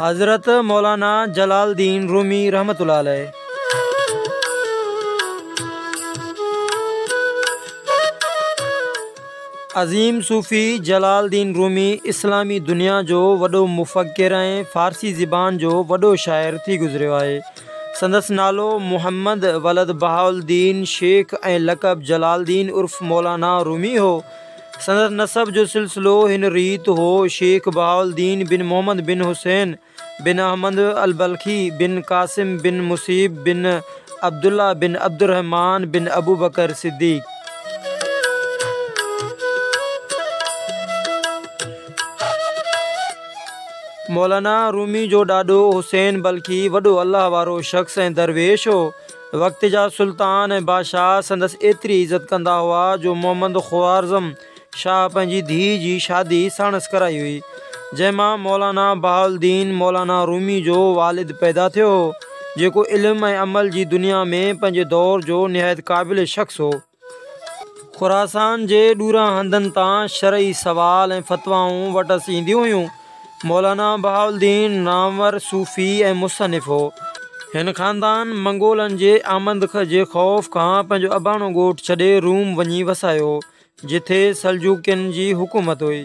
حضرت مولانا Jalaluddin Rumi رحمت الله عليه عظيم صوفي جلال الدين رومي اسلامي دنيا جو وڏو مفڪر ۽ فارسي زبان جو وڏو شاعر ٿي گذريو آهي سندس نالو محمد ولد بهاء الدين شيخ ۽ لقب جلال الدين عرف مولانا رومي هو. سندس نسب جو سلسلو هن ريت هو، شيخ بهاء الدين بن محمد بن حسين بن احمد البلخي بن قاسم بن مصيب بن عبدالله بن عبدالرحمان بن ابوبڪر صديق. مولانا رومي جو ڏاڏو حسين بلخي وڏو الله وارو شخص ۽ درويش هو. وقت جا سلطان ۽ بادشاهه سندس ايتري عزت ڪندا هئا جو محمد خوارزم شاهه پنهنجي ڌيء جي شادي ساڻس ڪرائي هئي، جنهن مان مولانا بهاءالدين مولانا رومي جو والد پيدا ٿيو هو، جيڪو علم ۽ عمل جي دنيا ۾ پنهنجي دور جو نهايت قابل شخص هو. خراسان جي ڏوران هنڌن تان شرعي سوال ۽ فتوائون وٽس اينديون هيون. مولانا بهاء الدين نامور صوفي ۽ مصنف هو. هن خاندان منگولن جي آمد جي خوف کان پنهنجو اباڻو ڳوٺ ڇڏي روم وڃي وسايو هو، جتي سلجوقين جي حڪومت هئي.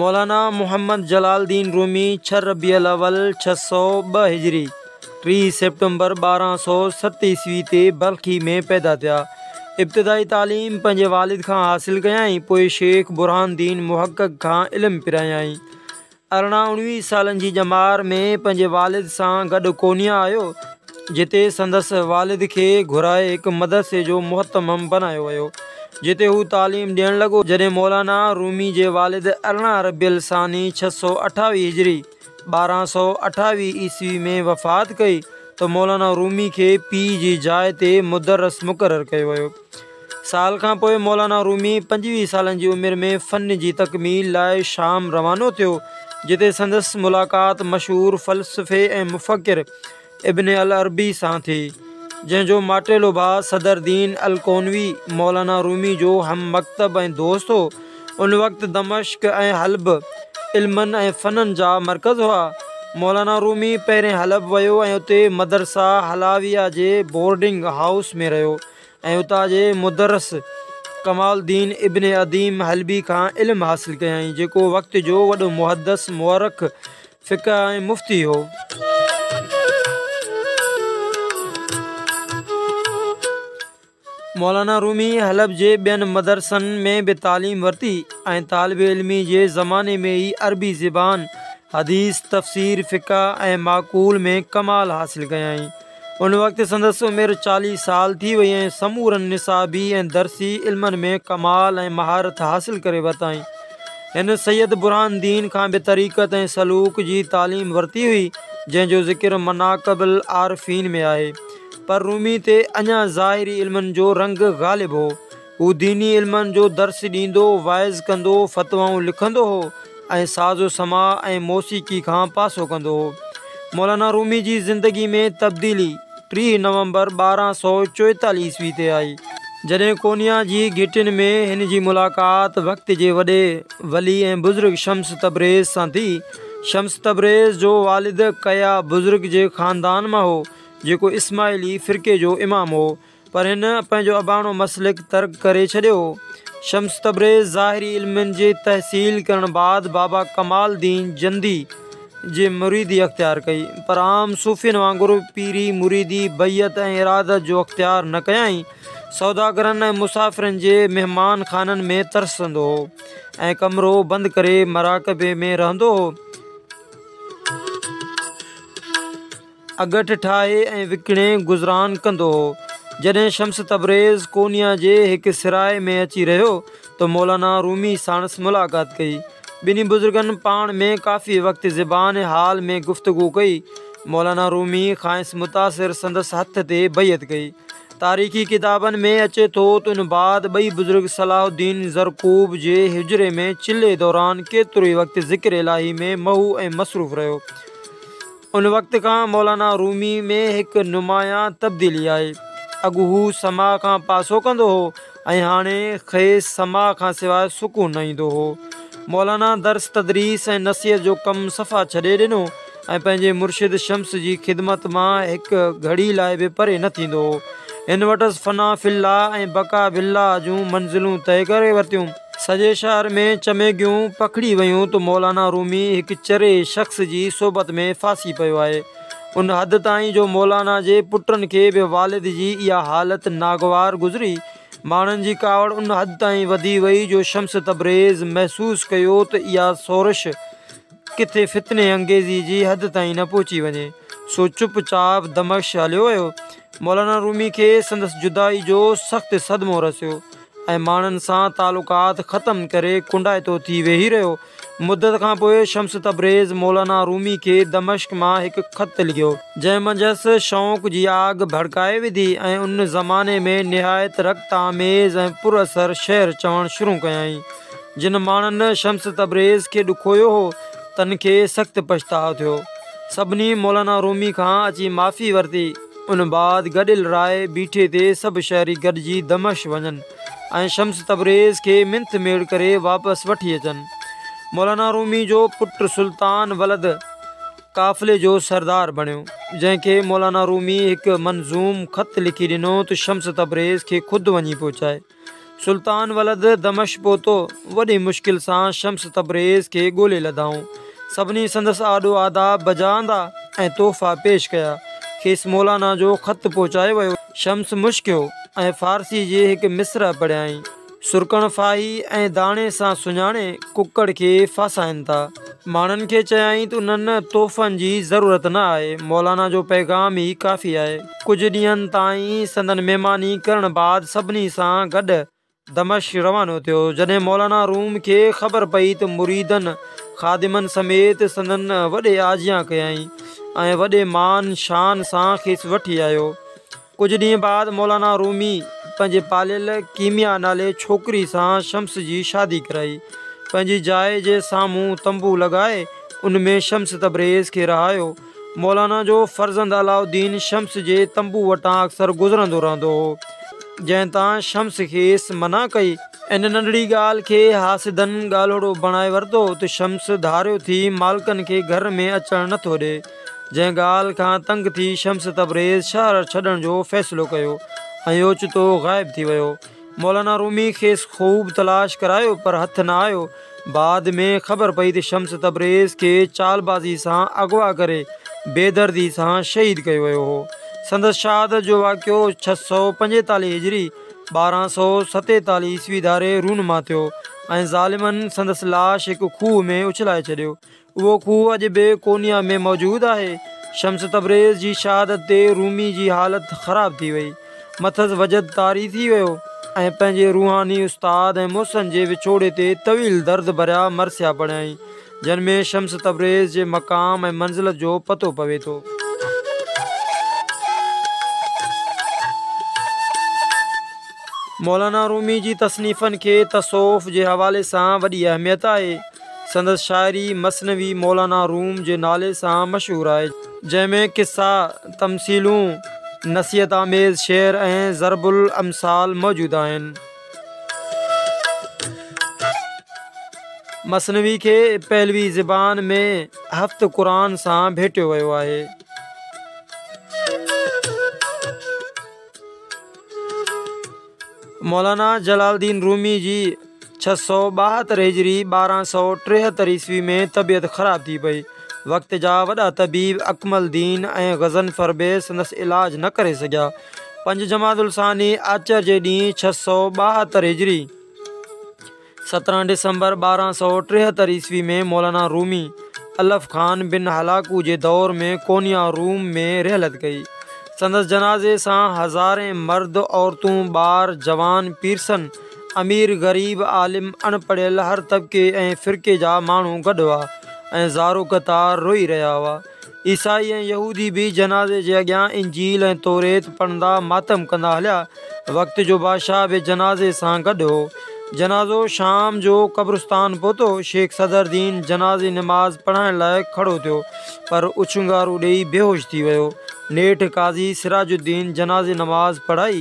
مولانا محمد جلال الدين رومي ڇهه ربيع الاول ڇهه سؤ ٻه هجري، ٽي سيپٽمبر ٻارهن سؤ ست عيسوي تي بلخي ۾ پيدا ٿيا. ابتدائي تعليم پنهنجي والد کان حاصل ڪيائين، پوء شيخ برهان الدين محقق کان علم پرايائين. ارڙهن اڻويهه سالن جي ڄمار ۾ پنهنجي والد سان گڏ قونيا آيو، جتي سندس والد کي گهرائي هڪ مدرسي جو مهتمم بنايو ويو، جتي هو تعليم ڏيڻ لڳو، جڏهن مولانا رومي جي والد ارڙهن ربيع الثاني ڇهه سؤ اٺاويهه هجري، ٻارهن سؤ اٺاويهه عيسوي ۾ وفات ڪئي ته مولانا رومي کي پيء جي جاء تي مدرس مقرر ڪيو ويو. سال کان پوء مولانا رومي پنجويهه سالن جي عمر ۾ فن جي تڪميل لاء شام روانو ٿيو، جتي سندس ملاقات مشهور فلسفي ۽ مفڪر، ابن العربي سان ٿي، جنهن جو ماٽيلو ڀاء صدر دين الڪونوي مولانا رومي جو هم مڪتب ۽ دوست هو. ان وقت دمشق ۽ حلب علمن ۽ فنن جا مرڪز هئا. مولانا رومي پهرين حلب ويو ۽ اتي مدرسه حلاويه جي بورڊنگ هائوس ۾ رهيو ۽ اتان جي مدرس ڪمال الدين ابن عديم حلبي کان علم حاصل ڪيائين، جيڪو وقت جو وڏو محدث، مؤرخ، فقه ۽ مفتي هو. مولانا رومي حلب جي ٻين مدرسن ۾ به تعليم ورتي ۽ طالب علمي جي زماني ۾ ئي عربي زبان، حديث، تفسير، فقه ۽ معقول ۾ ڪمال حاصل ڪيائين. ان وقت سندس عمر چاليهه سال ٿي وئي ۽ سمورن نصابي ۽ درسي علمن ۾ ڪمال ۽ مهارت حاصل ڪري ورتائين. هن سيد برهان الدين کان به طريقت ۽ سلوڪ جي تعليم ورتي هئي، جنهن جو ذڪر مناقب العارفين ۾ آهي. پر رومي تي اڃا ظاهري علمن جو رنگ غالب هو. هو ديني علمن جو درس ڏيندو، وعظ ڪندو، فتوائون لکندو هو ۽ ساز و سماع ۽ موسيقي کان پاسو ڪندو هو. مولانا رومي جي زندگي ۾ تبديلي ٽيهه نومبر ٻارهن سؤ چوئيتاليهه عيسوي تي آئي، جڏهن ڪونيا جي گهٽين ۾ هن جي ملاقات وقت جي وڏي ولي ۽ بزرگ شمس تبريز سان ٿي. شمس تبريز جو والد ڪيا بزرگ جي خاندان مان هو، جيڪو اسماعيلي فرقي جو امام هو. پر هن پنهنجو اباڻو مسلڪ ترڪ ڪري ڇڏيو. شمس تبريز ظاهري علمن جي تحصيل ڪرڻ بعد بابا ڪمال الدين جندي جي مريدي اختيار ڪئي، پر عام صوفين وانگر پيري، مريدي، بيعت ۽ ارادت جو اختيار نه ڪيائين. سوداگرن ۽ مسافرن جي مهمان خانن ۾ ترسندو هو ۽ ڪمرو بند ڪري مراقبي ۾ رهندو هو. اڳٺ ٺاهي ۽ وڪڻي گذران ڪندو هو. جڏهن شمس تبريز قونيا جي هڪ سرائي ۾ اچي رهيو ته مولانا رومي ساڻس ملاقات ڪئي. ٻنهي بزرگن پاڻ ۾ ڪافي وقت زبان حال ۾ گفتگو ڪئي. مولانا رومي کانئس متاثر سندس هٿ تي بيعت ڪئي. تاريخي ڪتابن ۾ اچي ٿو ته ان بعد ٻئي بزرگ صلاح الدين زرقوب جي حجري ۾ چلي دوران ڪيتروئي وقت ذڪر الاهي ۾ محو ۽ مصروف رهيو. ان وقت کان مولانا رومي ۾ هڪ نمايان تبديلي آئي. اڳ هو سماع کان پاسو ڪندو هو ۽ هاڻي کيس سماع کان سواء سڪون نه ايندو هو. مولانا درس تدريس ۽ نصيحت جو ڪم صفا ڇڏي ڏنو ۽ پنهنجي مرشد شمس جي خدمت مان هڪ گهڙي لاء به پري نه ٿيندو هو. هن وٽس فنا في الله ۽ بقا بالله جون منزلون طئي ڪري ورتيون. سڄي شهر ۾ چميگيون پکڙي ويون ته مولانا رومي هڪ چري شخص جي صحبت ۾ ڦاسي پيو آهي. ان حد تائين جو مولانا جي پٽن کي به والد جي اها حالت ناگوار گذري. ماڻهن جي ڪاوڙ ان حد تائين وڌي وئي جو شمس تبريز محسوس ڪيو ته اها سورش، ڪٿي فتني انگيزي جي حد تائين نه پهچي وڃي، سو چپ چاپ دمشق هليو ويو. مولانا رومي کي سندس جدائي جو سخت صدمو رسيو ۽ ماڻهن سان تعلقات ختم ڪري ڪنڊائتو ٿي ويهي رهيو. مدت کان پوء شمس تبريز مولانا رومي کي دمشق مان هڪ خط لکيو. جنهن منجهس شوق جي آڳ ڀڙڪائي وڌي ۽ ان زماني ۾ نهايت رقت آميز ۽ پر اثر شعر چوڻ شروع ڪيائين. جن ماڻهن شمس تبريز کي ڏکويو هو، تن کي سخت پڇتاء ٿيو. سڀني مولانا رومي کان اچي معافي ورتي. ان بعد گڏيل راء بيٺي تي سڀ شهري گڏجي دمشق وڃن ۽ شمس تبريز کي منٿ ميڙ ڪري واپس وٺي اچن. مولانا رومي جو پٽ سلطان ولد قافلي جو سردار بڻيو، جنهن کي مولانا رومي هڪ منظوم خط لکي ڏنو ته شمس تبريز کي خود وڃي پهچائي. سلطان ولد دمش پهتو. وڏي مشڪل سان شمس تبريز کي ڳولي لڌائون. سڀني سندس آڏو آداب بجا آندا ۽ تحفا پيش ڪيا. کيس مولانا جو خط پهچايو ويو. شمس مشڪيو ۽ فارسي جي هڪ مصرع پڙهيائين. سرڪڻ ڦاهي ۽ داڻي سان سڃاڻي ڪڪڙ کي ڦاسائين ٿا. ماڻهن کي چيائين ته انهن تحفن جي ضرورت نه آهي، مولانا جو پيغام ئي ڪافي آهي. ڪجهه ڏينهن تائين سندن مهماني ڪرڻ بعد سڀني سان گڏ دمشق روانو ٿيو. جڏهن مولانا روم کي خبر پئي ته مريدن خادمن سميت سندن وڏي آجيان ڪيائين ۽ وڏي مان شان سان کيس وٺي آيو. ڪجهه ڏينهن بعد مولانا رومي پنهنجي پاليل ڪيميا نالي ڇوڪري سان شمس جي شادي ڪرائي. پنهنجي جاء جي سامهون تنبو لڳائي ان ۾ شمس تبريز کي رهايو. مولانا جو فرزند علاء الدين شمس جي تنبو وٽان اڪثر گذرندو رهندو هو، جنهن تان شمس کيس منع ڪئي. ان ننڍڙي ڳالهه کي حاسدن ڳالهوڙو بڻائي ورتو ته شمس ڌاريو ٿي مالڪن کي گهر ۾ اچڻ نٿو ڏئي. جنهن ڳالهه کان تنگ ٿي شمس تبريز شهر ڇڏڻ جو فيصلو ڪيو ۽ اوچتو غائب ٿي ويو. مولانا رومي کيس خوب تلاش ڪرايو پر هٿ نه آيو. بعد ۾ خبر پئي ته شمس تبريز کي چالبازي سان اغوا ڪري بيدردي سان شهيد ڪيو ويو هو. سندس شهادت جو واقعو ڇهه سؤ پنجيتاليهه هجري، ٻارهن سؤ ستيتاليهه عيسوي ڌاري رونما ٿيو ۽ ظالمن سندس لاش هڪ کوهه ۾ اڇلائي ڇڏيو. اهو کوهه اڄ به ڪونيا ۾ موجود آهي. شمس تبريز جي شهادت تي رومي جي حالت خراب ٿي وئي. مٿس وجد طاري ٿي ويو ۽ پنهنجي روحاني استاد ۽ محسن جي وڇوڙي تي طويل درد ڀريا مرثيا پڙهيائين، جن ۾ شمس تبريز جي مقام ۽ منزلت جو پتو پوي ٿو. مولانا رومي جي تصنيفن کي تصوف جي حوالي سان وڏي اهميت آهي. سندس شاعري مثنوي مولانا روم جي نالي سان مشهور آهي، جنهن ۾ قصا، تمثيلون، نصيحت آميز شعر ۽ ضرب الامثال موجود آهن. مثنوي کي پهلوي زبان ۾ هفت قرآن سان ڀيٽيو ويو آهي. مولانا جلال الدين رومي جي ڇهه سؤ ٻاهتر هجري ٻارهن سؤ ٽيهتر عيسوي ۾ طبيعت خراب ٿي پئي. وقت جا وڏا طبيب اڪمل الدين ۽ غضنفر به سندس علاج نه ڪري سگهيا. پنج جمادي الثاني آچر جي ڏينهن ڇهه سؤ ٻاهتر هجري. سترهن ڊسمبر ٻارهن سؤ ٽيهتر عيسوي ۾ مولانا رومي الف خان بن هلاڪو جي دور ۾ ڪونيا، روم، ۾ رحلت ڪئي. سندس جنازي سان هزارين مرد، عورتون، ٻار، جوان، پيرسن، امير، غريب، عالم، اڻ پڙهيل هر طبقي ۽ فرقي جا ماڻهو گڏ هئا ۽ زارو قطار روئي رهيا هئا. عيسائي ۽ يهودي به جنازي جي اڳيان انجيل ۽ توريت پڙهندا ماتم ڪندا هليا. وقت جو بادشاهه به جنازي سان گڏ هو. جنازو شام جو قبرستان پهتو. شيخ صدرالدين جنازي نماز پڙهائڻ لاء کڙو ٿيو پر اڇنگارو ڏيئي بيهوش ٿي ويو. نيٺ قاضي سراج الدين جنازي نماز پڙهائي